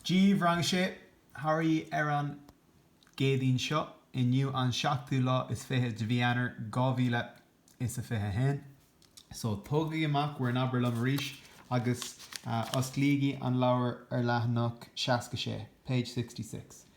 Dia daoibh Rang 6 Thoraí ar an gCéadaoin seo, inniu an seachtú lá is fiche de mhí Eanáir dhá mhíle is a fiche haon. So, tógaigí amach bhur nAbair Liom arís agus osclaígí an leabhar ar leathanach seasca sé, page sixty six.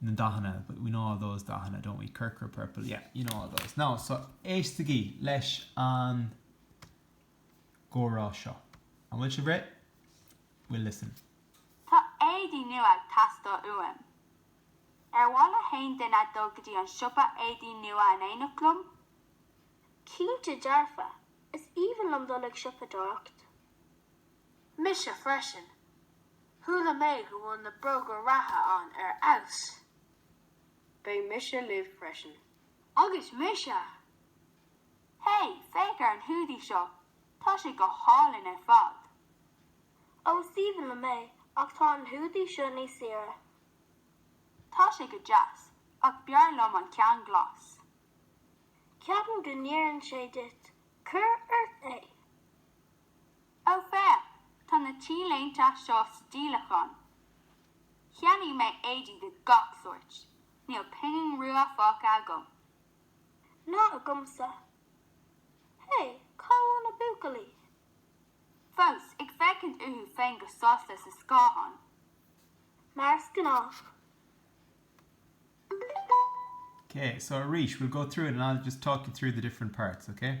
na ndathanna but we know all those dathanna, don't we? corcra purple yeah, you know all those now so éistigí leis an gcomhrá seo. An bhfuil sibh réidh? We'll listen. Tá éadaí nua ag teastáil uaim. Ar mhaith le haon duine dul go dtí an siopa éadaí nua in éineacht liom? Cinnte dearfa! Is aoibhinn liom dul ag siopadóireacht. Mise freisin. Chuala mé go bhfuil na bróga reatha ann ar fheabhas. Beidh mise libh freisin. Agus mise! Hey, féach ar an hoodie seo, tá sé go hálainn ar fad! Ó, is aoibhinn liom é, ach tá an hoodie seo níos saoire. Tá sé go deas, ach b'fhearr liom an ceann glas. Ceapaim go n-oireann sé duit, Cuir ort é! Ó féach, tá na T-léinte seo sa díolachán. Cheannaigh mé éadaí de gach sórt, níl pingin rua fágtha agam. Ná agamsa. Hé, cá bhfuil na buachaillí? Fós ag féachaint orthu féin go sásta sa scáthán. Mar is gnách. Okay, so arís, we'll go through it and I'll just talk you through the different parts, okay?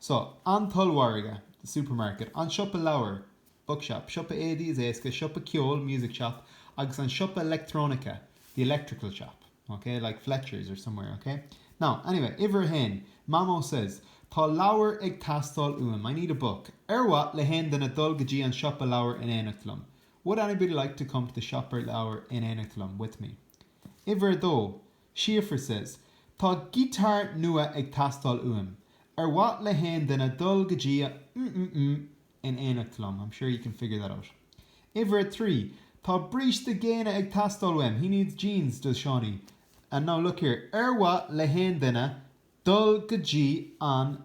So, an t-ollmhargadh, the supermarket, an siopa leabhar, bookshop, siopa éadaí, is éasca, siopa ceoil, music shop, agus an siopa leictreonaice, the electrical shop, ok, like Fletchers or somewhere, ok. Now, anyway, uimhir a haon, Mamó says, Tá leabhar ag teastáil uaim, I need a book. Ar mhaith le haon duine dul go dtí an siopa leabhar in éineacht liom? Would anybody like to come to the siopa leabhar in éineacht liom, with me? Uimhir a dó, Síofra says, Tá giotár nua ag teastáil uaim. Ar mhaith le haon duine dul go dtí an mm mm in éineacht liom? I'm sure you can figure that out. Uimhir a trí, Tá bríste géine ag teastáil uaim. He needs jeans, does Seánie. And now look here, ar mhaith le haon duine dul go dtí an.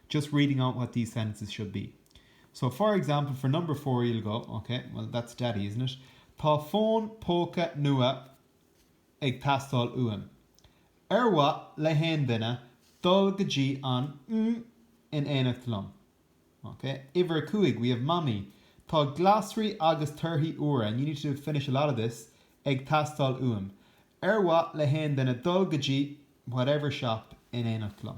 just reading out what these sentences should be. So, for example, for number four you'll go, Ok, well, that's Daddy, isn't it? Tá fón póca nua ag teastáil uaim. Ar mhaith le haon duine dul go dtí an mm in éineacht liom? Ok, uimhir a cúig, we have Mamaí, tá glasraí agus torthaí úra, and you need to finish a lot of this, ag teastáil uaim. Ar mhaith le haon duine dul go dtí whatever shop in éineacht liom?